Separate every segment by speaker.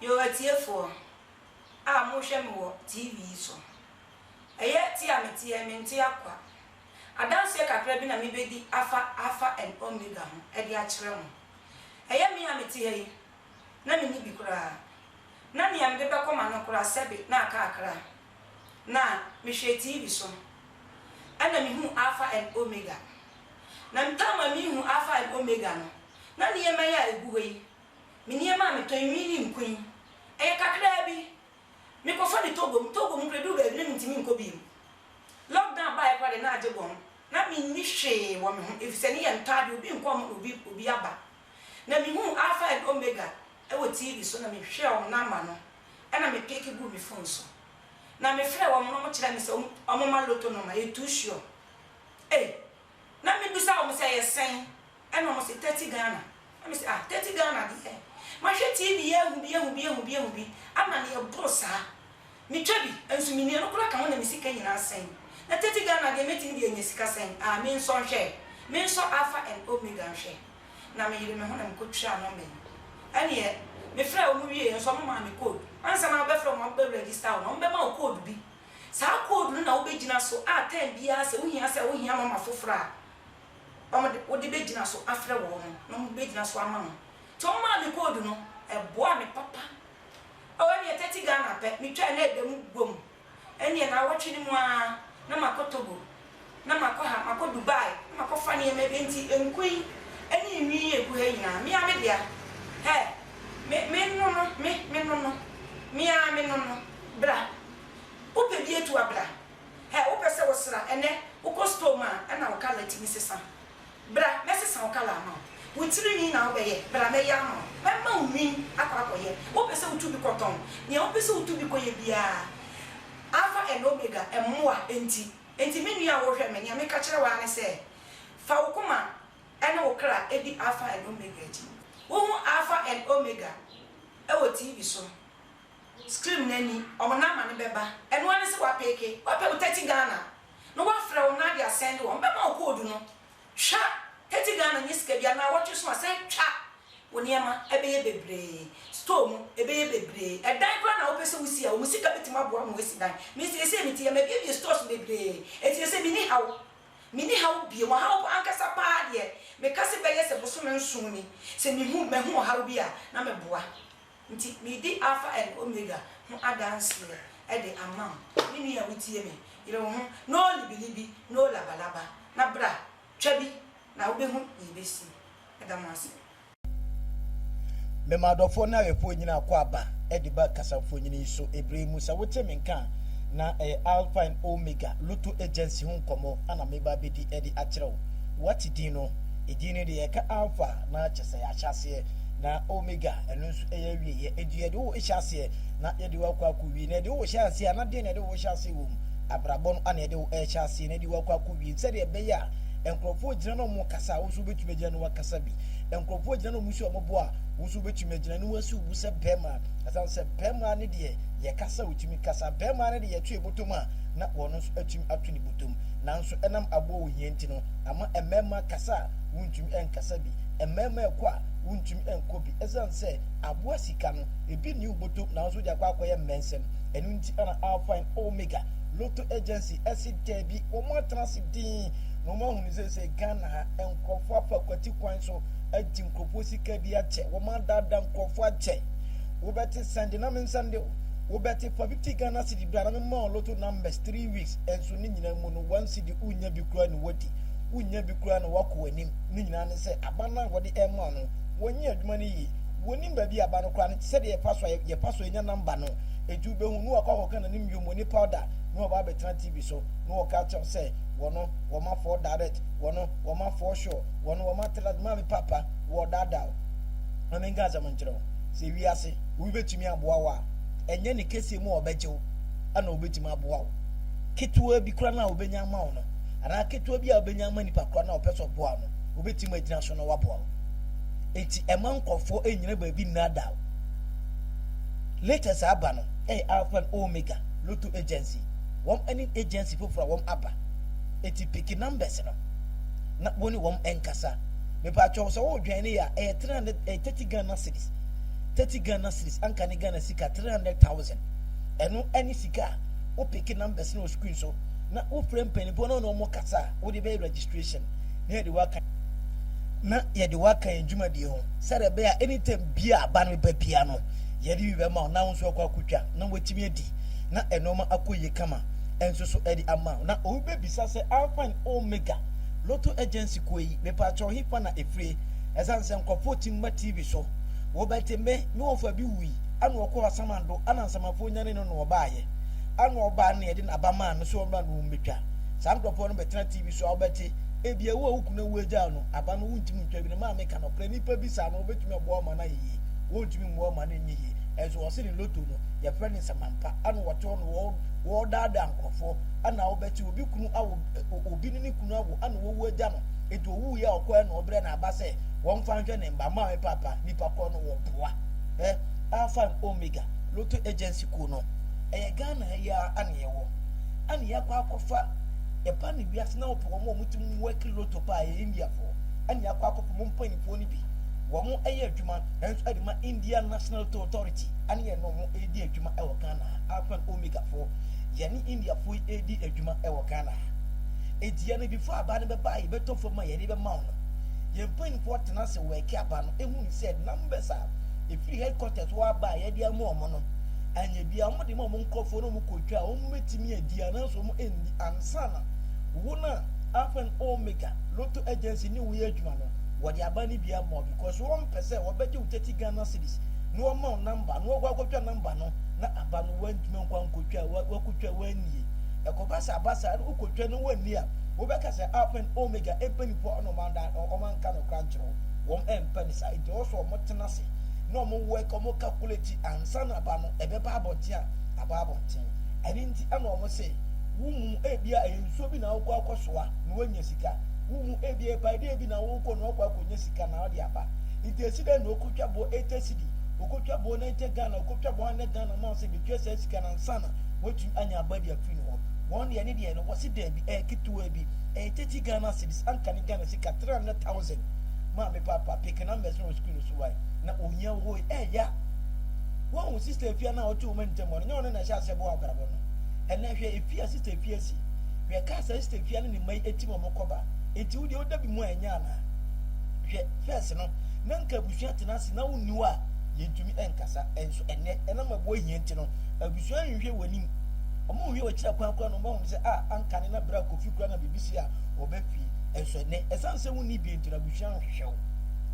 Speaker 1: Yo atiefoɔ a mohwɛ me wɔ TV yi so, ɛyɛ te a meteɛ mente akwa. Adanseɛ kakra bi na mebɛdi afa Alpha and Omega ho de akyerɛ mo. Ɛyɛ me a mete ha yi, na menni bi koraa. Na nea mede bɛkɔ m'ano koraa sɛbe na aka akra. na mehwɛɛ TV so na mehuu Alpha and Omega. Na mepɛ ma mehu Alpha and Omega no, na nneɛma yi a ɛgu hɔ yi, me nneɛma a metɔn yi, me ne nko yi, ɛyɛ kakraa bi. Mekɔfa no Togo, me Togo mu koraa ɛduru baabi na mentumi nkɔ bio. Lockdown baeɛ koraa deɛ na agye bɔn, na menni hwee wɔ me ho ɛfiri sɛ ne yɛ ntɔ adeɛ, obi nkɔ hɔ ma obi aba. Na mehuu Alpha and Omega wɔ TV so na mehwɛɛ wɔn namba no na me peke guu me fon so. Na me frɛɛ wɔn na wɔkyerɛɛ me sɛ wɔn ma lotto nɔma yɛ too sure. Ei! Na me bisa wɔn sɛ ɛyɛ sɛn na wɔn se thirty Ghana. Na me se ah thirty Ghana deɛ mahwɛ TV ahu bi ahu bi ahu bi ahu bi ama no yɛ boro saa. Metwa bi, nso menni ɛno koraa ka ho na me sika nyinaa sɛe. Na tete Ghana deɛ mɛtumi de anya sika sɛn? Ah, mensɔ nhwɛ ɛ. Mensɔ Alpha and Omega nhwɛ. Na meyere me ho na mekɔ twiraa nɔmba yi. Ɛneɛ, me frɛɛ wɔn wieɛ nso wɔn maa me code. Ansa na wobɛfrɛ wɔn abɛ register wo no, wɔn bɛma wo code bi. Saa code no na wobɛgyina so a time biara sɛ wohia sɛ wohia nɔmba foforɔ a, wɔn de, wode bɛgyina so afrɛ wɔn na wɔn bɛgyina so ama wo. Nti wɔn maa me code no, ɛboaa me papa. Oh ɛneɛ tɛti Ghana pɛ me twaa na ɛda mu bom ɛneɛ naawɔtwe no mu aa na makɔ Togo na makɔ ha makɔ Dubai na makɔ fa neɛma bi nti nku yi ɛne enwi yi egu ha nyinaa mea me dea hɛ me me nono me me nono mea me nono bra wopɛ bi atua bra hɛ wopɛ sɛ wosra ɛnɛ wokɔ store mu a ɛna wo colour tumi sesa Bra, mɛsesa wo kala ama wo. Wo tiri nwi na wobɛyɛ, bra mɛyɛ ama wo. Mɛma wo nwi akɔ akɔyɛ. Wopɛ sɛ wotu bi kɔtɔn? Nea wopɛ sɛ wotu bi kɔyɛ biara, Alfa and Omega, mmoa nti. Enti me nua a worehwɛ me, nea meka kyerɛ wo ara ne sɛ, Fa wo koma ne wo kra di Alfa and Omega akyi. Wohu Alfa and Omega wɔ TV so, screen no ani, wɔn namba no bɛba. Ɛno ara ne sɛ woapeeke, woapɛ wo 30 Ghana na wɔafrɛ wo anaa de asɛnde wo a, wɔbɛma wo koodu no. Twa, Haiti Ghana nyɛ sika biara, naawɔtwe so a sɛn twa, wo nneɛma bɛyɛ bebree, store mu ɛbɛyɛ bebree, ɛdan koraa na wopɛ sɛ wosi a wɔn sika bɛtumi aboa wo ma woasi dan. Me seesei me te ha, mabiebie stores bebree, enti ɛsɛ menni haw, menni haw bio, ɔhaw pa ankasa pa ara deɛ meka sɛ bɛyɛ sɛ bosome nson ni, sɛ mehu, mahu ɔhaw bi a na meboa. Nti meredi Alfa and Omega ho adanseɛ de ama wo, me nua a wotie me, yere wo ho, no libbilibi, no labalaba, na bra, twa bi, na wobɛhu deɛ ɛbɛsi. Meda mo ase. Me m'adɔfoɔ ne ayɔfoɔ nyinaa kɔ aba de ba kasamfonin yi so berɛ yi mu. Sɛ wote me nka a, na ɛyɛ Alfa and Omega Lotto Agency ho nkɔmmɔ na mereba abɛdi de akyerɛ wo. Woate din no? Edin no deɛ, yɛka Alfa na kyerɛ sɛ yɛahyɛ aseɛ. na omega ɛno nso ɛyɛ awieɛ ɛnti yɛde wo hyɛ aseɛ na yɛde wo akɔ akɔ wie na yɛde wo hyɛ aseɛ a na deɛ na yɛde wo hyɛ aseɛ wɔ mu abrabɔ no ana yɛde wo ɛhyɛ aseɛ na yɛde wo akɔ akɔ wie sɛdeɛ ɛbɛyɛ a nkurɔfoɔ gyina na ɔmo kasa a wo nso wobɛtumi agyina na wakasa bi nkurɔfoɔ gyina na ɔmo si ɔmo bo a wo nso wobɛtumi agyina na wasi wo bo sɛ bɛrima ɛsan sɛ bɛrima ne deɛ yɛkasa wotumi kasa bɛrima ne deɛ yɛto yɛ bɔtɔm a na wɔn nso atumi ato ne bɔtɔm nanso ɛnam aboɔ ohia nti no ama mmarima kasa a wontumi nkasa bi Mmarima ɛkɔ a wontumi nkɔ bi ɛsiane sɛ aboa sika no ebi nni wo bɔtɔm nanso wode akɔ akɔyɛ mmɛnsɛm ɛno nti ɛna Alpha and Omega Lotto Agency ɛse daabi wɔn atena ase dinn na wɔn ahunu seesei Ghana ha nkorɔfoɔ afa kwati kwan so agye nkorɔfoɔ sika bi akyɛ wɔn adaadaa nkorɔfoɔ akyɛ wobɛte sɛnde na mensɛnde wo wobɛte fa 50 Ghana cedi bra na mema wo Lotto numbers 3 weeks ɛnso ne nyinaa mu no 1 cedi wonnya bi koraa na wadi wonnya bi koraa na wakɔ w'anim. no nyinaa ne sɛ aba no a wɔde rema wo no, wɔnyɛ adwuma no yie. Wɔnnim baabi a aba no kora no te, sɛdeɛ yɛpa so a yɛpa so nya namba no. Enti wobɛhu no wakɔ akɔka n'anim yommo ne powder na waba abɛtena TV so na wɔka akyerɛ wo sɛ, Wɔno wɔma four direct, wɔno wɔma four sure, wɔno wɔma three Maame paapa wɔredaadaa wo. Ma menka asɛm nkyerɛ wo, sɛ wiase obi bɛtumi aboa wo a, ɛnyɛ ne kɛseɛ mu a ɔbɛgye wo na ɔbɛtumi aboa wo. Ketewa bi koraa no a ɔbɛnya ama wo no, anaa ketewa bi a wobɛnya ama nipa korɔ no a ɔpɛ sɛ ɔboa no, wobɛtim agyina so na waboa wo. Enti ɛma nkurɔfoɔ ɛnyina baabi nnaadaw. Latest aba no ɛyɛ Alpha and Omega Lotto Agency. Wɔn ɛne agency foforɔ a wɔn aba. Enti piki numbers no na wone wɔn ɛnkasa. Mepaakyɛw sɛ wodwɛn ne ya ɛyɛ 300 ɛyɛ 30 Ghana cedis. 30 Ghana cedis anka ne Ghana sika 300,000. Ɛno ɛne sika a wo piki numbers no wɔ screen so. na wofrɛ mpanimfoɔ na ɔne wɔn kasa a wode bɛyɛ registration na yɛde waka na yɛde waka yɛn dwumadie ho sɛdeɛ ɛbɛyɛ a anytime bi a aba no bɛba bia no yɛde bi bɛma wo na wo nso akɔ akɔtwa na watumi adi na ɛnoɔma akɔ yie kama nso so ɛde ama wo na obi bɛbisa sɛ alpha and omega lotto agency kuo yi mepaakyɛw he fa na ɛfirie ɛsiane sɛ nkurɔfoɔ tim ma tv so wɔbɛte me me wɔfa bi wui ana ɔkɔ asamando ana nsamafoɔ nyane no na ɔbaayɛ ɛna ɔbaa no yɛde n'aba maa no so ɔma no wɔn bɛtwa saa nkurɔfoɔ no bɛtena tv so a wobɛte ebi ɛwo a wokunu awu agya no aba no wontumi ntwa bi no maa meka nɔkorɛ nipa bi saa no wɔbɛtumi aboa ɔma no ayɛ yie wɔntumi mmoa ɔma no nyɛ yie ɛnso wɔse ne loto no yɛfrɛ ne nsamampa ɛna wɔte hɔ no wɔdaadaa nkurɔfoɔ ɛna wobɛte obi kunu awo obi ne ne kunu awo ɛna wɔwu agya no nti owu yɛ ɔkɔ ɛna ɔbrɛ na aba sɛ wɔmfa nhwɛ ne mba maa me papa nipa korɔ no wɔboa eh alpha and omega loto agency Ku no ɛyɛ Ghana ha yi ara na yɛwɔ ɛna yɛakɔ akɔfa yɛba ne wiase na wɔpɛ wɔn a wɔtumi wɔaki loto paa yɛ Indiafoɔ ɛna yɛakɔ akɔpɛ mo mpanimfoɔ no bi wɔn ɛyɛ adwuma nso ɛde ma India National Lotto Authority ɛne yɛn na wɔn ɛredi adwuma ɛwɔ Ghana ha Alpha and Omega foɔ yɛne Indiafoɔ yi ɛredi adwuma ɛwɔ Ghana ha eti yɛn before aba no bɛba a yɛbɛtɔ fam a yɛde bɛma wɔn yɛn mpanimfoɔ tena ase wɔaki aba no ehu ne sɛ numbers a ɛfiri headquarters hɔ aba a yɛde ama wɔn no anyɛ bia wɔn de ma wɔn nkurɔfoɔ na wɔn kɔtwa a wɔn bɛtumi adi anaasɛ wɔn ɛndi ansa na wɔn a alpha and omega lotto agency ne wɔn yɛ adwuma no wɔde aba no bia ma because wɔn mpɛ sɛ wɔbɛgye wo tɛti Ghana cities na wɔn ma wo namba na wɔkɔ akɔtwa namba no na aba no wɔn ntumi nkɔ ankɔtwa wɔkɔtwa wɔn annie ɛkɔba sɛ aba saa no wokɔtwa no wɔn annie a wobɛka sɛ alpha and omega mpanimfoɔ ɔno wɔn anka no kora nkyerɛ Wɔn ɛmpɛ no saa nti ɛwɔ sɛ wɔn tena ase na wɔn work wɔn calculate ansa na aba no ɛbɛba abɔnten a aba abɔnten ɛno nti ɛna wɔn se wo mu ebia ɛyɛ nsuo bi na wokɔ akɔ soa na woanya sika wo mu ebia ɛpae dɛ bi na wokɔ na wakɔ akɔ nya sika na ɔde aba nti esi dɛ na okotwa boɔ ɛtɛ sidi okotwa boɔ na ɛtɛ Ghana okotwa boɔ anɛ Ghana ma ɔsɛ betua saa sika na ansa na watumi anya aba de afiri ne hɔ wɔn deɛ ne deɛ no wɔse daabi ɛyɛ ketewa bi ɛyɛ tɛti Ghana cedis anka ne Ghana Ka three hundred thousand maa me papa peke numbers na wɔ school no so wae na ohia hoi ɛyɛ eh, a woahu sister efia no a ɔte wɔn ntam hɔ no nyɛ ɔno na ɛhyɛ aseɛ boa abrabɔ no ɛnɛ hwɛ efi a sister efia si hwɛ kaa sɛ sister efia ne ne mma yi etim wɔn kɔba enti wo deɛ woda bi mu a ɛnyɛ anaa hwɛ fɛs no na nka abusua tena ase na wonni hɔ a yɛntumi ɛnkasa ɛnso ɛnɛ ɛnam aboa hia nti no abusua nhwehwɛ wɔ anim ɔmo nhwɛ wɔ akyira kwan kora no ɔmo ahunu sɛ a anka ne na bere a kofi kura na biribi si a ɔbɛ fie Ɛnso ɛnnɛ, ɛsiane sɛ wonni bi nti no, abusua nhwehwɛ wo.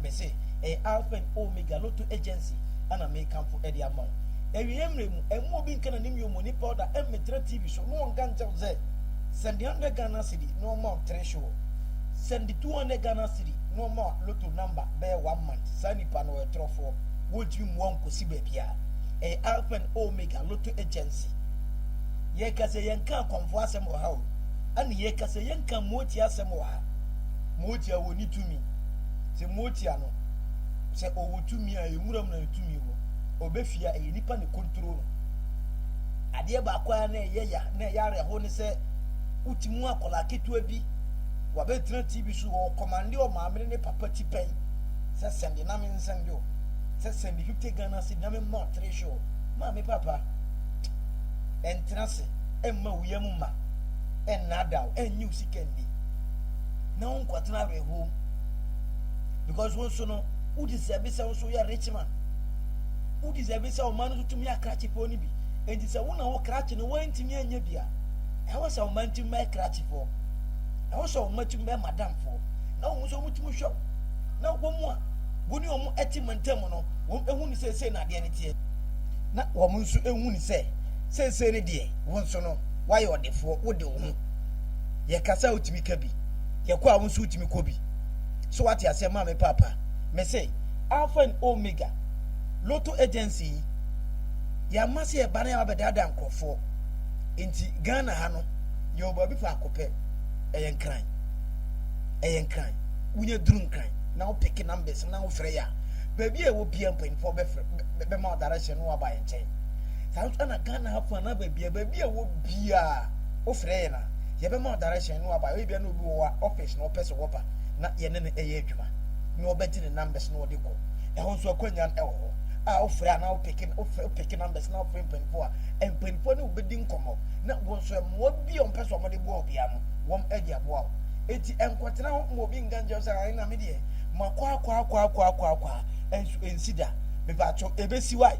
Speaker 1: Mise, Ɛyɛ Alpha and Omega Lotto Agency na merekamfo de ama wo. Awieeɛ mmerɛ mu, ɛmma obi nka n'anim yomoni powder mmetra TV so na ɔnka nkyerɛ wo sɛ, Sɛnde hundred Ghana cedi na ɔmma wo treasure. Sɛnde two hundred Ghana cedi na ɔmma wo Lotto number bɛyɛ one month. Saa nipa no, ɔyɛ torɔfoɔ. Wɔntumi mmoa wo nkɔsi baabiara. Ɛyɛ Alpha and Omega Lotto Agency. Yɛreka sɛ yɛnka akɔmfoɔ asɛm wɔ ha o. ɛna yɛka sɛ yɛnka motia asɛm wɔ ha motia wɔ ne tumi sɛ motia no sɛ ɔwɔ tumi a ɛwuram na ne tumi wɔ ɔbɛfie a ɛyɛ nipa ne kontro no adeɛ baako a na ɛyɛ ya na ɛyɛ awerɛho ne sɛ woti mu akwadaa ketewa bi wabɛtena tv so ɔkɔmande ɔmaamene ne papa ti pɛn sɛ sɛnde na me nsɛnde o sɛ sɛnde 50 ghana cedi na me mmɔ ɔtere hwɛ o maame papa ɛntena se mma wo yam mma, ɛnnadaw, ɛnnyi wo sika nni, na wo nkɔtena awerɛhow mu. Because wo nso no, wo deserve sɛ wo nso yɛ rich man. Wo deserve sɛ ɔman no nso tumi akrakye pɔn no bi. Enti sɛ wo na wo krakye no woantumi anyɛ bi a, ɛwɔ sɛ ɔman tumi bɛyɛ krakyefoɔ. Ɛwɔ sɛ ɔman tumi bɛyɛ madamfoɔ. Na wɔn nso wɔtumi hwɛ wo. Na wɔn a wo ne wɔn te mantam no, wɔn ehu ne sɛ sei na adeɛ no teɛ. Na wɔn nso ehu ne sɛ Seesei no deɛ, wo nso no, woayɛ ɔdefoɔ, wode wo ho. Yɛkasa a wotumi ka bi, yɛkɔ a wo nso wotumi kɔ bi. So woate aseɛ? Ma me paapa. Mese, Alpha and Omega Lotto Agency yi, yɛama sɛ yɛba na yɛaba bɛdaadaa nkorɔfoɔ. Enti Ghana ha no, yɛwɔ baabi faako pɛ, ɛyɛ Nkran. Ɛyɛ Nkran. Wonya duru Nkran, na wo peke numbers no na wofrɛ yɛn a, baabi a ɛwɔ biara mpanyinfoɔ bɛfrɛ, bɛma wo direction na woaba yɛn nkyɛn. Saa nso na Ghana ha fo anaa baabi a baabi a ɛwɔ biara wofrɛ yɛn a yɛbɛma wo direction na waba ebia na obi wɔ hɔ a office na ɔpɛ sɛ wɔba na yɛne no ɛyɛ adwuma na ɔbɛgye ne numbers na ɔde kɔ ɛhɔ nso akwannya no ɛwɔ hɔ a wofrɛ anaa wopeke wopeke numbers na wofrɛ mpanimfoɔ a mpanimfoɔ ne wobɛdi nkɔmmɔ na wɔn nso mmoa bi a wɔpɛ sɛ wɔde boa obiara no wɔn de aboa wo eti ɛnkɔtena hɔ ma obi nka nkyɛn sɛ ayi na me deɛ makɔ akɔ akɔ akɔ akɔ akɔ a ɛnso ɛnsi da mepatɔ ɛbɛsi wae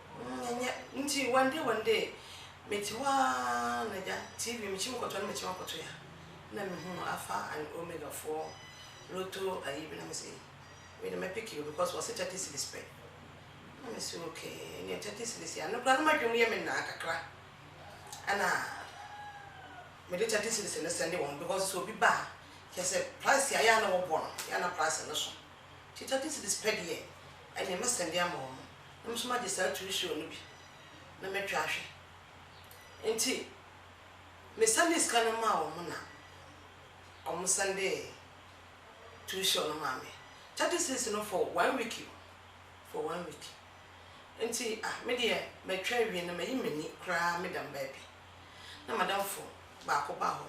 Speaker 1: Mm, ɛnyɛ. Nti, one day, one day, mete hɔ ara na gya, TV, mekyim kɔtɔ no, mekyim akɔtɔ yi a, na mehu Alpha and Omega foɔ lotto ayi bi, na mese ei, wei deɛ mɛpeke o, because wɔse thirty cedis pɛ. Na mese okay, ɛnneɛ thirty cedis yi, ano koraa na m'adwene mu yɛ me naa kakra. Ɛna mede thirty cedis no sɛnde wɔn, because sɛ obi ba a, kyerɛ sɛ price a ɛyɛ a na wɔbɔ no, ɛyɛ a na price no so. Nti thirty cedis pɛ deɛ, ɛnneɛ mɛsɛnde ama wɔn. Me nso magye saa turi soro no bi na matwa ahwɛ. Enti mesanee sika no maa wɔn na wɔsan de turi soro no maa me. Thirty cedis no for one week o, for one week. Enti ah me deɛ matwa awie na mayi m'ani koraa meda me baabi. Na m'adamfo baako ba hɔ.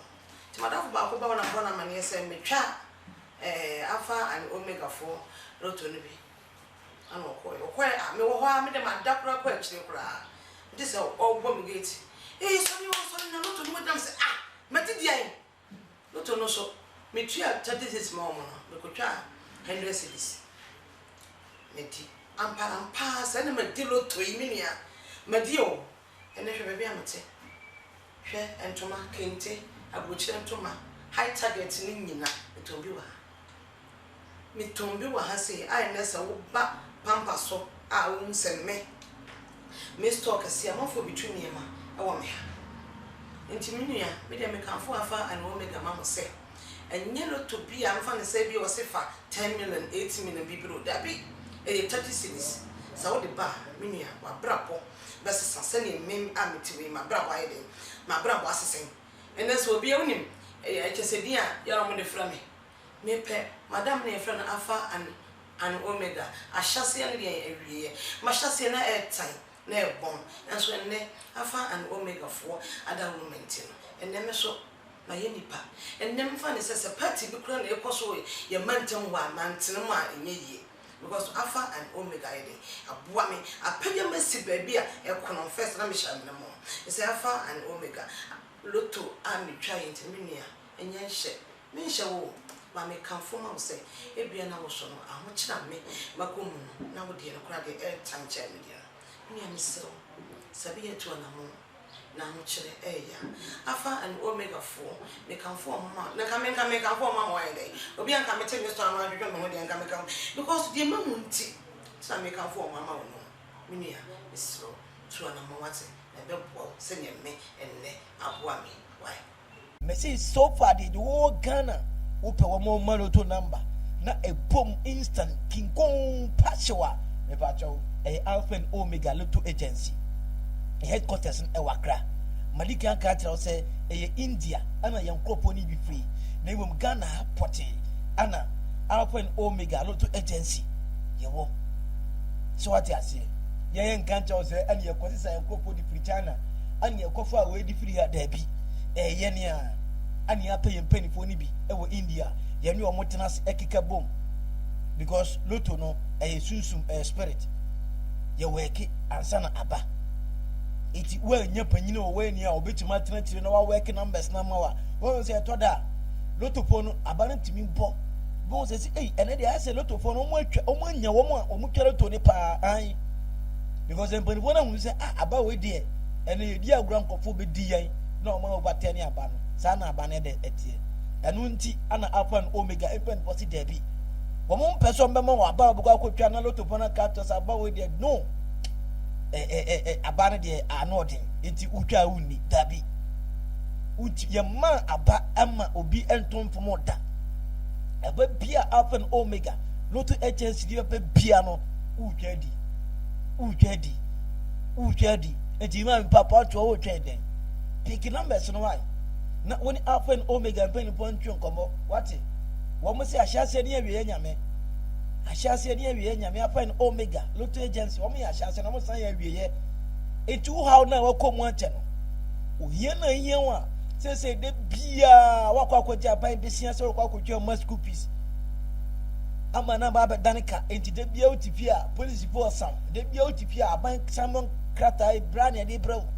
Speaker 1: Enti m'adamfo baako ba hɔ na mebɔ no amanneɛ sɛ metwa eh Alpha and Omega foɔ lotto no bi. Ɛna ɔkɔeɛ. Ɔkɔeɛ a, mewɔ hɔ ara, me deɛ mada koraa kɔ akyire koraa. Megye sɛ ɔrebɔ me gate. Ee, sɔre o, sɔre! Na lotto no mu gyina. Mese, Ah! Madi deɛn? Lotto no so, metua thirty cedis maa wɔn no, mekɔtwaa hundred cedis. Madi. Amparampaa, sɛ na madi lotto yi, me nua. Madi o. Ɛnnɛ hwɛ baabi a mete. Hwɛ ntoma, kente, aburokyire ntoma, high target no nyina metɔn bi wɔ ha. Metɔn bi wɔ ha sei a ɛnnɛ sɛ woba pampa so a wohu sɛ me, me store kɛseɛ amanfoɔ bɛtu nneɛma wɔ me ha. Nti me nua, me deɛ mekamfo Alpha and Omega ma mo sɛ, ɛnyɛ lotto bi a mfa no sɛ ebia wɔse fa ten million, eight million bibire o, dabi, ɛyɛ thirty cedis. Sɛ wode ba a, me nua, w'abrabɔ bɛsesa sɛnea nnɛ yi a mete mu yi m'abrabɔ ayɛ dɛn? M'abrabɔ ase sɛn? Ɛnnɛ sɛ obi a wonim kyɛ sɛ din a yɛre wɔn de frɛ me. Mepɛ madam no a yɛfrɛ no Alfa and and Omega, ahyɛaseɛ ne deɛn awieɛ. M'ahyɛaseɛ na ɛtan na ɛbɔn nanso ɛnnɛ Alfa and Omega foɔ adaworo me nti no ɛnnɛ me so mayɛ nipa. Ɛnnɛ mefa no sɛ sɛ party bi koraa na ɛkɔ so wɔ yɛn mantam hɔ a mantene mu a ɛnyɛ yie. Because no Alpha and Omega yɛ dɛ aboa me apɛgya me asi baabi a ɛkorɔn first na mehyɛ amena mu Mesɛ Alpha and Omega Lotto a metwae nti me nua ɛnyɛ nhyɛ menhyɛ wo o But mekamfo ma wo sɛ ebia na wo so no ahokyere a me makɔ mu no na wo deɛ no koraa deɛ ɛreta nkyɛn me deɛ no Me nua mesrɛ wo Sabi yɛntu anamɔn N'ahokyerɛ ɛyɛ ya. Alpha and Omega foɔ, mekamfo wɔn ma, na nka me nka mekamfo wɔn ma wɔn ayɛ dɛn? Obi a nka mete me store ano adwodwo me ho deɛ nka meka wɔn, because deɛ mahu nti na mekamfo wɔn ama wo no. Me nua, mesrɛ wo, tu anamɔn wate, na ɛbɛboa wo sɛdeɛ me nnɛ aboa me yi. Why? Mese sofa deɛ deɛ ɔwɔ Ghana wopɛ wɔ mo ma loto number na ɛbom instant kinkon pa hyew a mepakyɛw ɛyɛ alpha and omega loto agency ne headquarters no ɛwɔ akra madikan aka akyerɛ wo sɛ ɛyɛ India ana yɛn nkurɔfoɔ no bi firi na mmom Ghana ha pɔtee ana alpha and omega loto agency yɛwɔ so wate aseɛ yɛyɛ nka nkyɛw sɛ ɛne yɛkɔ sisa yɛn nkurɔfoɔ de firi China Annie ɛkɔfaa wei de firi ha? Daabi. Ɛyɛ yɛn a Annie apɛ yɛn mpanimfoɔ no bi wɔ India a yɛne wɔn tena ase keka bom because loto no ɛyɛ sunsum, ɛyɛ spirit. Yɛwɛɛke ansa na aba. Eti woannya panyin wɔ w'ani a ɔbɛtumi atena akyire na wawɛɛke numbers no ama wo a, wohu sɛ ɛtɔ da a lotofoɔ no aba no tumi bɔ. Bohu sɛ sɛ ei ɛnɛ deɛ ayɛ sɛ lotofoɔ no wɔn atwa wɔn anya wɔn a wɔtwa loto no paa an. because mpanimfoɔ no ahunu sɛ ah aba wei deɛ ɛnna yɛdi agorɔ nkɔfoɔ bɛdi yɛn na wɔn a wɔba tɛn ne aba no saa na aba no ɛdɛ ɛteɛ ɛno nti ana alpha and omega mpanimfoɔ si daabi wɔn mpɛ sɛ wɔn bɛma wɔn aba wɔbɛkɔ akɔtwa na loto pɔn aka atɔ sɛ aba wei deɛ no ɛɛ aba no deɛ ano ɔden nti wotwa a wonni daabi woti yɛma aba ɛma obi ɛnto mfom ɔda ɛbɛ bia alpha and omega loto agency bi bɛbɛ bia no wotwa di wotwa di wotwa di nti maa mi papa ɔtoɔ wotwa dɛn pick numbers no wae na wɔn alpha and omega mpanyinfoɔ ntwe nkɔmɔ wate wɔn sɛ ahyɛaseɛ ne awieɛ nyame ahyɛaseɛ ne awieɛ nyame alpha and omega lotto agency wɔn yɛ ahyɛaseɛ na wɔn san yɛ awieɛ nti wo haw na wɔkɔ mu akyɛ no ohia na ehia wɔn a sɛsɛ de biara wakɔ akɔgye aban besia sɛ wɔkɔ akɔtwa wɔn school fees ama no aba abɛdane ka enti da biara wote fie a polisifo ɔsa wo da biara wote fie a aban san mo krataa ebra ne ɛde brɛ wo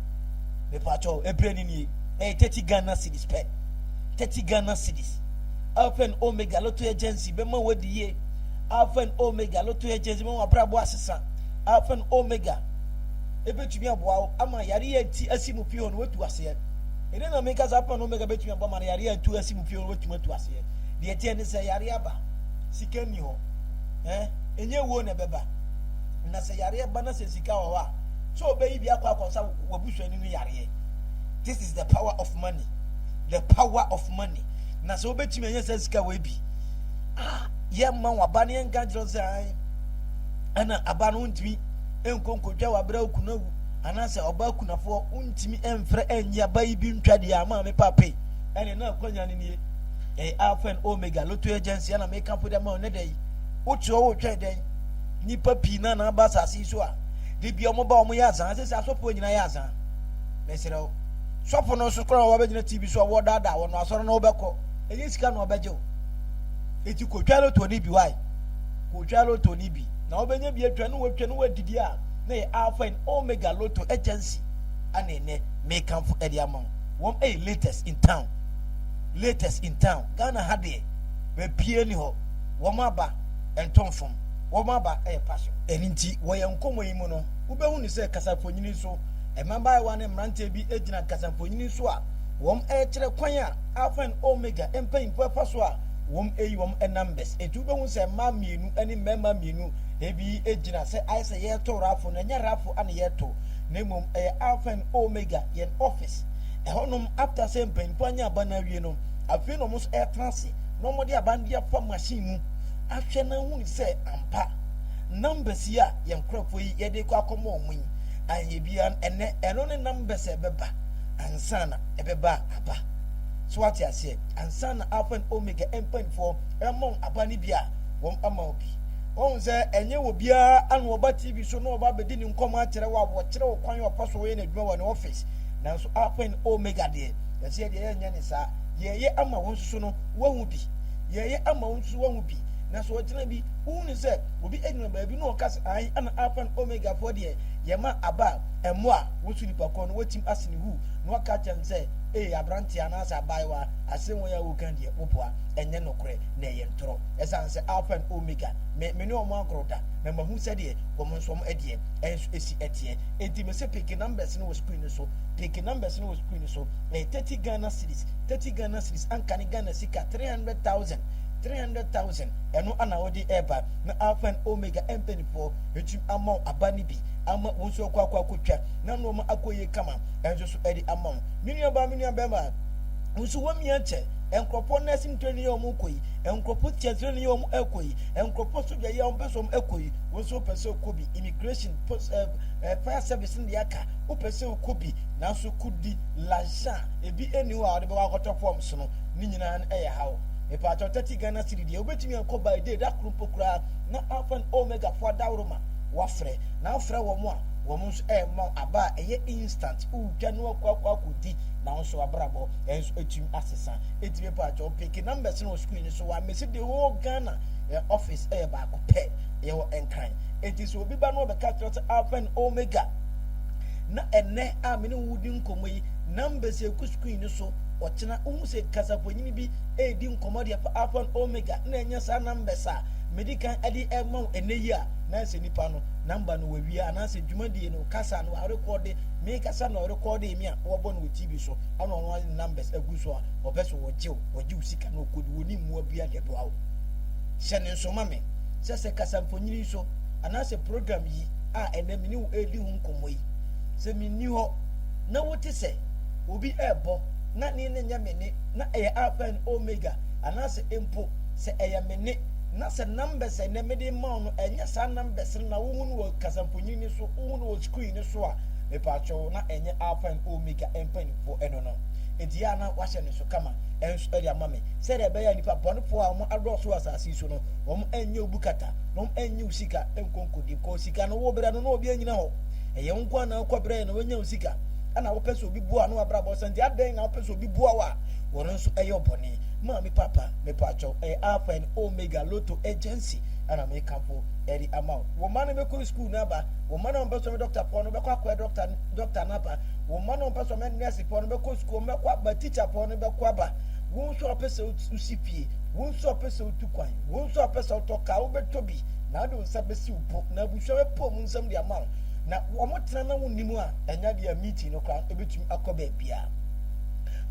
Speaker 1: mepatɔ ɛbrɛ ne nie ɛyɛ 30 Ghana cities pɛ 30 Ghana cities Alpha and Omega Lotto Agency bɛma wadi yie Alpha and Omega Lotto Agency bɛma wabrabɔ asesa Alpha and Omega ebɛtumi aboa wo ama yareɛ nti asi mu pii hɔ no watu aseɛ ɛne na meka sɛ Alpha and Omega bɛtumi aboa ma no yareɛ ntu asi mu pii hɔ no watumi atu aseɛ deɛ ɛteɛ ne sɛ yareɛ aba sika nni hɔ eh, ɛnyɛ wuo na ɛbɛba na sɛ yareɛ ba na sɛ sika wɔ hɔ a sɛ ɔbɛyi bi akɔ akɔsa wabusuani no yareɛ this is the power of money the power of money na sɛ wobɛtumi ɛnyɛ sɛ sika wɔ bi ah, yɛmma waba no yɛnka kyerɛ sɛ ae ɛna aba no wontumi ɛnkɔ nkɔtwa wabrɛ wo kuna wu anaasɛ ɔba kunafoɔ wontumi ɛmfrɛ ɛnyi aba yi bi ntwa deɛ ama me pape ɛne na akwanya no nie ɛyɛ alpha and omega lotto agency ana meka po dɛ ma ɔnɛ dɛ yi wotuo wo twɛ dɛn nipa pii na na aba asase so a de bia ɔmo ba ɔmo yɛ azan sɛ sɛ asɔfo nyinaa yɛ azan mesrɛ wo sɔfo no nso kora a wɔbɛgyina tv so a wɔdaadaa wɔn asɔre na wɔbɛkɔ ɛnyɛ sika na wɔbɛgye wo eti kotwa lotto no bi wae kotwa lotto no bi na wɔbɛnya bi atwa ne wɔtwa ne wɔadidi a na yɛ alpha and omega lotto agency ana ɛnɛ mekamfo ɛde ama wɔn ɛyɛ latest in town latest in town Ghana ha deɛ baabiara ni hɔ wɔn aba ɛntɔ mfam wɔn aba ɛyɛ passion. Ɛno nti wɔ yɛn nkɔmmɔ yi mu no wobɛhunu sɛ kasamfonyini so mmabaayewa ne mmeranteɛ bi gyina kasamfonyini so a wɔrekyerɛ kwan a Alpha and Omega mpanyimfoɔ ɛfa so a wɔyi wɔn numbers. Nti wobɛhunu sɛ mmaa mmienu ne mmarima mmienu ebi gyina sɛ ayɛ sɛ yɛretɔ raffle no ɛnyɛ raffle ana yɛretɔ na mmom ɛyɛ Alpha and Omega yɛn office Ɛhɔnom, after sɛ mpanyimfo anya aba no awie no, afei na wɔn nso retena ase na wɔde aba no de afa machine mu ahwɛ na ahu sɛ ampa numbers yi a yɛn nkurɔfoɔ yi yɛde kɔ akɔma wɔn yi anyɛ biara no, ɛnɛ ɛno ne numbers a ɛbɛba ansa na ɛbɛba aba. So wate aseɛ? Ansa na Alpha and Omega mpanyimfoɔ ɛma wɔn aba no bi a, wɔn ama wo bi. Wɔn sɛ ɛnyɛ wɔ biara ana wɔba TV so na wɔba abɛdi ne nkɔmmɔ akyerɛ wo a wɔkyerɛ wo kwan a wɔfa so wɔyɛ n'adwuma wɔ ne office. Nanso Alpha ne Omega deɛ, yɛseɛ deɛ yɛnyɛ ne saa. Yɛɛyɛ ama wo nsoso no, woahu bi. Yɛɛyɛ ama wo nsoso woahu bi. Na sɛ ɔgyina bi, wohunu sɛ obi agyina baabi na ɔka sɛ, ae, ɛna Alpha ne Omega foɔ deɛ, yɛma aba a, ɛmmɔ a, wo nso nipa korɔ no, woatim ase no hu, na woaka akyerɛ no sɛ, ee, abranteɛ anaasɛ abaayewa, asɛm wei a woreka deɛ, woboa, ɛnyɛ nokorɛ, na ɛyɛ ntorɔ. Ɛsiane sɛ Alpha ne Omega, me, me ne wɔn agorɔ da, na mahu sɛdeɛ wɔn nso wɔn ɛdeɛ nso si teɛ. Enti mese peke numbers no wɔ screen no so, peke numbers no wɔ screen no so, ɛyɛ thirty Ghana cedis, thirty Ghana cedis anka ne Ghana sika three hundred thousand, three hundred thousand, ɛno ana wode ɛreba na Alpha and Omega mpanyinfoɔ atumi ama wo aba no bi ama wo nso akɔ akɔ akɔtwa na nnoɔma akɔ yie kama ɛnso so ɛde ama wo. Me nuabaa, me nuabɛrima, wo nso woamia kyɛ, nkurɔfoɔ nursing training yi a wɔkɔ yi, nkurɔfoɔ teacher training yi a wɔkɔ yi, nkurɔfoɔ sodwa yi a wɔpɛ sɛ wɔkɔ yi, wo nso wopɛ sɛ wokɔ bi, immigration, fire service no deɛ aka wopɛ sɛ wokɔ bi nanso kodi lajan a ebi ɛni hɔ a wɔde bɛwɔ akɔtɔ forms no ne nyinaa no ɛyɛ haw mepaatɔ 30 Ghana cedi deɛ wobɛtumi akɔ by day da koro mpo koraa na alpha and omega fo adaworo ma wafrɛ na wofrɛ wɔn a wɔn nso ɛma aba a ɛyɛ instant wotwa no akɔ akɔ akɔdi na wɔn nso abrabɔ ɛnso ɛtumi asesa ɛti mepaatɔ peke numbers no wɔ screen so wɔ amesi de whole Ghana office ɛyɛ baako pɛ yɛwɔ nkran Enti sɛ obi ba na ɔbɛka akyerɛ sɛ Alpha and Omega, na ɛnɛ a me ne wo di nkɔmmɔ yi, numbers egu screen no so, ɔkyena wohu sɛ kasafonyini bi redi nkɔmmɔ de afa Alpha and Omega na ɛnyɛ saa numbers a medi kan de ɛma wo ɛnɛ yi a, na ɛsɛ nipa no number no wawie anaasɛ dwumadie no kasa no arekɔde me kasa na ɔrekɔde me a wɔbɔ no wɔ TV so ɛna ɔno ade numbers agu so a ɔpɛ sɛ ɔgye wo ɔgye wo sika na ɔkɔdi wɔne mmoa bia de boa wo hyɛ ne nso ma me. sɛ sɛ kasamfonini nso anaasɛ program yi a ɛnnɛ me ne wo redi ho nkɔmmɔ yi, sɛ menni hɔ na wote sɛ obi rebɔ na ne nne nyɛ me nne, na ɛyɛ Alpha and Omega, anaasɛ mpo sɛ ɛyɛ me nne, na sɛ numbers a ɛnnɛ mede rema wo no ɛnyɛ saa numbers no na wohu no wɔ kasamfonini no so, wohu no wɔ screen no so a, mepatwɔ wo, na ɛnyɛ Alpha and Omega mpanimfoɔ ɛno no. Enti yɛ a na wahyɛ ne so kama nso de ama me, sɛdeɛ ɛbɛyɛ a nnipa bɔnefoɔ a wɔadɔɔso wɔ asase yi so, so no, wɔn nnye wo bu kata, na wɔn nnye wo sika nkonkodi. Kɔ sika no wo brɛ no na obi anyina hɔ. Ɛyɛ wo nkoa na wokɔ brɛ na wanya wo sika. Ana wopɛ sɛ obi boa no abrabɔ sɛ nti adɛn na wopɛ sɛ obi boa wo a wɔn nso ɛyɛ ɔbɔne? Maame papa mepatwɔ ɛyɛ alpha and omega lotto agency ana me kampo ɛde ama wo. Wo ma no bɛkɔ school no aba, wo ma no ɔmpɛ sɛ ɔmɛ doctor pɔ no bɛkɔ akɔɛ doctor doctor no aba, wo ma no ɔmpɛ sɛ ɔmɛ nurse pɔ no bɛkɔ school ɔmɛkɔ aba, teacher pɔ no bɛkɔ aba, wo nso a ɔpɛ sɛ wosi pie Wo nso a ɔpɛ sɛ otu kwan, wo nso a ɔpɛ sɛ ɔtɔ kaa, wobɛtɔ bi, na wode wo nsa bɛsi wo bo, na abusua bɛpaw mu nsɛm de ama wo. Na wɔtena na wonni mu a, ɛnyɛ adeɛ a meeting no koraa ɛbɛtumi akɔ baabiara.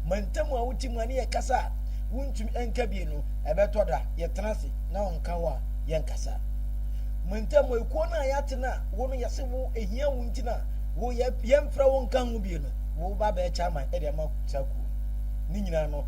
Speaker 1: Mantam a wote mu a ne yɛkasa a wontumi nka bie no, ɛbɛtɔ da yɛtena ase na ɔnka wo a yɛnkasa. Mantam a ekuo no a yɛate no a wo no yɛse wo ɛhia wo nti na wo yɛmfrɛ wo nka ho bie no, woba bɛɛkyɛ aman de ama saa kuo no. Ne nyinaa no,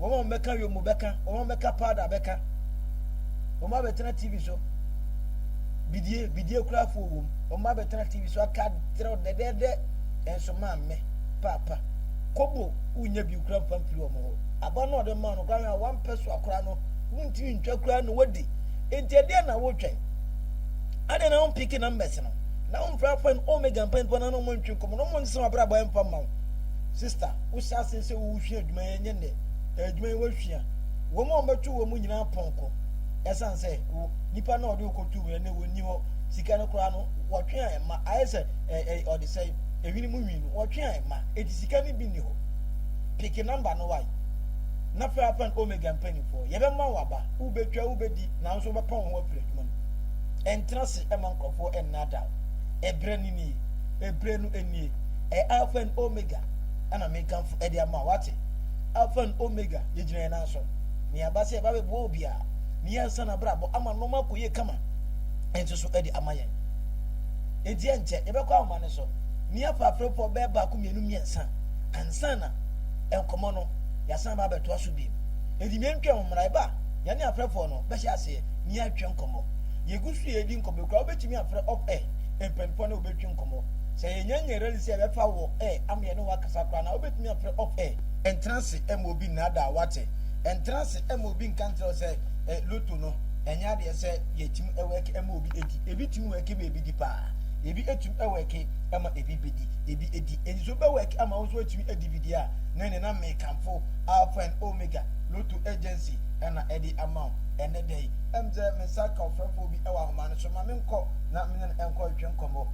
Speaker 1: Wɔn a wɔbɛka Yomu bɛka, wɔn a wɔbɛka Powder bɛka. Wɔn a bɛtena TV so, bidie, bidie kurafoɔ wɔ mu. Wɔn a bɛtena TV so aka kyerɛ wo dɛdɛɛdɛ, nso maame, paapa, kobo wonya bi kura mfa mfiri wɔn hɔ. Aba no a ɔde maa no kura hwɛ a wampɛ so akora no, wontumi ntwa kura na wadi. Enti ɛdeɛ na wotwɛn? Adɛn na wompiki numbers no? Na womfrɛ afan Omega mpanyinfoɔ na na wɔntwe nkɔmmɔ na wɔnsesa wɔn abrabɔ ɛmfa mma wo, sister. Wohyɛ ase sɛ woresua adwuma yi a, ɛnyɛ nnɛ. Adwuma yi wɔasua wɔn a wɔbɛto wɔn nyinaa pɔnkɔ. Ɛsiane sɛ wo nipa no a ɔde wo kɔtoo mu no nnɛ ɔnni hɔ, sika no koraa no wɔtwe a ɛmma, ayɛ sɛ ɛɛ ɔde sɛe, ɛhwene mu nwi no wɔtwe a ɛmma, enti sika no bi nni hɔ. Peke nɔmba no y na frɛ Alfa ne Omega mpanimfoɔ. Yɛbɛma wo aba. Wobɛtwa, wobɛdi, nanso wobɛpɔn wo ho afiri adwuma no mu. Ɛntena ase mma nkurɔfoɔ nnaadaa wo. Ɛberɛ no nie. Ɛberɛ no nie. Ɛyɛ Alfa ne Omega. ɛna mekamfo ɛde ama wate alpha and omega yɛgyina yɛn nan so nea aba sɛ ɛba bɛboa obi a ne yɛ nsa na brabɔ ama nneɛma akɔ yie kama nso so ɛde ama yɛn enti ɛnkyɛ yɛbɛkɔ ahoma no so ne afaaferepɔ bɛɛ baako mmienu mmiɛnsa ansa na nkɔmmɔ no yɛasan ba abɛtoa so biem enti mmea ntwa ho mmara ɛba yɛne afrɛfoɔ no bɛhyɛ aseɛ ne yɛatwa nkɔmmɔ yɛgu so yɛdi nkɔmmɔ kura wobɛtumi afrɛ off air mpɛmpɔ ne wobɛtwi nkɔmmɔ Sɛ yɛnya nya rally sɛ yɛbɛfa wɔ air ama yɛne wo akasa koraa na wobɛtumi afrɛ off air. Ɛntena ase ɛma obi nnaadaa wo wate. Ɛntena ase ɛma obi nka nkyerɛ wo sɛ eh lotto no ɛnyɛ adeɛ sɛ yɛtumi ɛwɛke ɛma obi ɛdi. Ebi tumi wɛke ma ebi di paa. Ebi ɛtumi ɛwɛke ɛma ebi bɛdi, ebi ɛdi. Enti sɛ wobɛwɛke ama wo nso woatumi ɛdi bi deɛ a na ɛneɛ na mekamfo Alpha and Omega Lotto Agency ɛna ɛde ama wo ɛnɛ da yi. Ɛm sɛ me nsa ka ɔfrɛfoɔ bi ɛwɔ ahoma no so. Ma menkɔ na mene no ɛnkɔ ntwetwe nkɔmmɔ.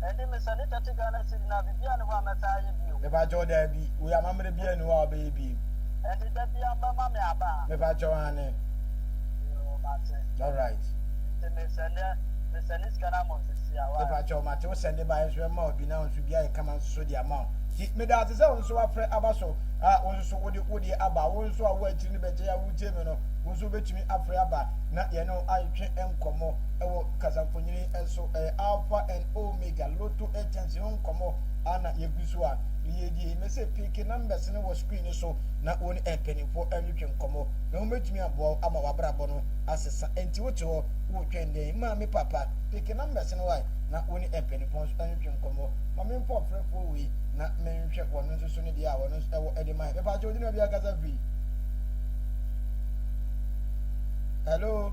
Speaker 1: Ɛde me sɛ ne tɛte Ghana cedi no a biribiara nni hɔ a mɛtaa ayɛ bio. Mepakyɛw, Daabi, woi amammerɛ biara nni hɔ a wobɛyɛ bio. Ɛnde da biara mobɛma me aba a. Mepakyɛw, Aane. Yoo, mate. Alright. Nti me sɛnde, me sɛnde sika no ama wo sisi a, wai? Mepakyɛw, mate, wo sɛnde baeɛ nso mɛma wo bi na wo nso bi ayɛ kama nso de ama wo. Nti meda wo ase sɛ wo nso woafrɛ aba so a wo nso so wode wo deɛ aba. Wo nso a wo akyiri no bɛkyɛ yi a woretie me no, wo nso wobɛtumi afrɛ aba na yɛne wo atwetwe nkɔmmɔ wɔ kasamfonini so. eh, Alpha and Omega, Lotto agents ho nkɔmmɔ ana yɛgu so a yɛdie. Mese peke numbers no wɔ screen no so na wo ne mpanimfoɔ ntwetwe nkɔmmɔ na wɔbɛtumi aboa wo ama w'abrabɔ no asesa. Enti wote hɔ wotwɛn dɛn? Ma me papa peke numbers no wae na wo ne mpanimfoɔ nso ntwetwe nkɔmmɔ. Ma me mfa ɔfrɛfoɔ wei na menhwɛ wɔn nso so ne deɛ a wɔn nso ɛwɔ ɛde ma yɛ. Mepa kyɛ wodina bi akasa firi. Hello?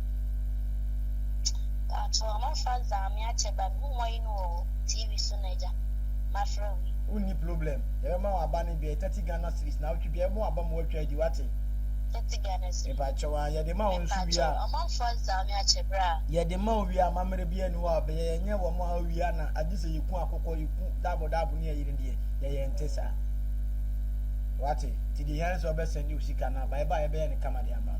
Speaker 1: Mpatsɔ momfa dza meakyɛ ba no mumua yi no wɔ TV so no agya mafrɛ wo yi. Wonni problem, yɛbɛma wo aba no bi, ɛyɛ thirty Ghana cedis, naawɔtwe biara yɛbɛma wo aba ma woatwa adi, wate? Thirty Ghana cedi. Mepakyɛw aa, yɛde ma wo nso wie a. Mepatsɔ momfa dza meakyɛ bra. Yɛde ma wo wie a, amammerɛ biara nni hɔ a wɔbɛyɛ, yɛnyɛ wɔn a wowie a na agye sɛ yɛku akokɔ, yɛku daabɔdaabɔ ne yɛyere deɛ, yɛyɛ nte saa. Wate? Nti deɛ ehia ne sɛ wɔbɛ sɛnde wo sika no aba, yɛba a yɛbɛyɛ no kama de ama wo.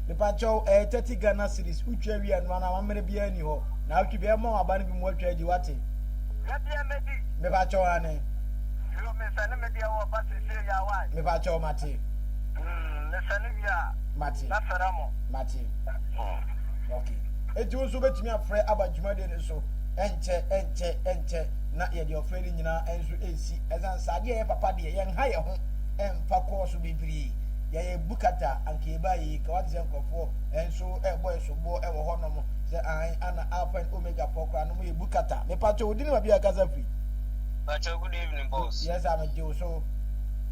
Speaker 1: Mepakyɛw ɛyɛ thirty Ghana cedis wo twa wie ɛnoa no amammerɛ biara nni hɔ naawɔtwe biara mɛma waba no bi mu watwa adi wate. Medeɛ mɛdi. Mepakyɛw aane. Yoo mesɛne medeɛ wɔ ba sesie ya wai. Mepakyɛw mate. Umm mesɛne wie a. Mate. Mɛfrɛ mo. Mate. Umm. Ok enti wo nso wobɛtumi afrɛ aba dwumadie no so ɛnkyɛ ɛnkyɛ ɛnkyɛ na yɛde ɔfrɛ no nyinaa nso ɛresi ɛsiane sɛ adeɛ a ɛyɛ papa deɛ yɛnha yɛn ho ɛmfa kɔɔso bebree. Yɛyɛ bu kata a anka yɛbaa yie ka wate sɛ nkorɔfoɔ nso ɛbɔ yɛ soboɔ ɛwɔ hɔ nom sɛ ahan ana alpha and omega foɔ koraa no mo yɛ bu kata mepatwɔ wo dini ma bia kasa firi. Patwɔ good evening boss. Yes sir megye wo so.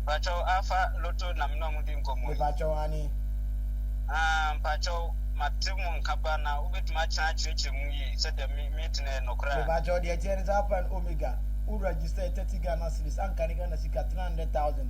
Speaker 1: Patwɔ alpha loto na me ne ɔmo di nkɔmɔ yi. Mepatwɔ aane. Aah mpatwɔ mate mo nka paa na wobɛtumi akyena akyerɛkyerɛ mu yie sɛdeɛ me me tena ɛnɔ koraa. Mepatwɔ deɛ ɛteɛ ne sɛ alpha and omega wo register 30 Ghana cedis anka ne Ghana sika 300,000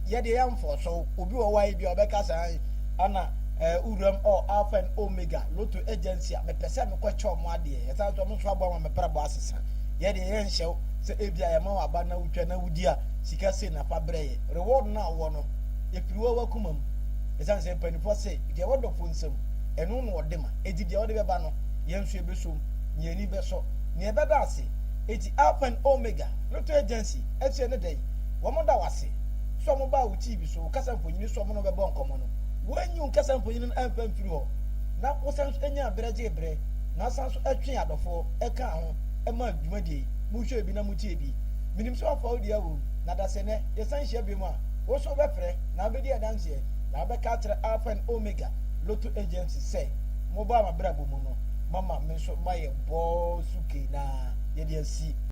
Speaker 1: Yɛ deɛ ɛyɛ mfɔɔso. Obi wɔ hɔ a ebia ɔbɛka sɛ ae ana eh, wo wuram ɔ Alpha and Omega Lotto Agency a mepɛ sɛ mekɔ kyɛ ɔmo adeɛ. Ɛsan nso ɔmo nso aboa ma me prɛbɔ asesa. Yɛ deɛ yɛ nhyɛ wo sɛ ebia yɛma wo aba na wotwa na wodi a sika sei na fa brɛ yɛ. Reward no a wowɔ no efiri wo w'akoma mu. Ɛsan sɛ mpaninfoɔ se deɛ ɛwɔ dɔfoɔ nsam ɛno na ɔde ma enti deɛ wode bɛba no yɛn nso ɛbɛsom na yɛn ani bɛsɔ nea ɛbɛda ase. Enti Alpha and Omega Lotto Agency ɛseɛ ne dɛn? Wɔda wo ase sɛ wɔbaa wo TV so, wo kasa mfonini so a wɔne wo bɛbɔ nkɔmmɔ no. Woanyi wo kasa mfonini no amfa amfiri hɔ, na wosan nso nyaa bere gyee bere na wosan nso twee adɔfoɔ kaa ho maa dwumadie yi. Mohwɛɛ bi na motiee bi. Menim sɛ woafa wo dua wom, na da sɛ nnɛ yɛsan hyia biom a, wo nso wobɛfrɛ na wobɛdi adanseɛ na wobɛka akyerɛ Alpha ne Omega Lotto Agency sɛ, Mobaa m'abrabɔ mu no, moama me nso mayɛ bɔɔ so kei na yɛde asi.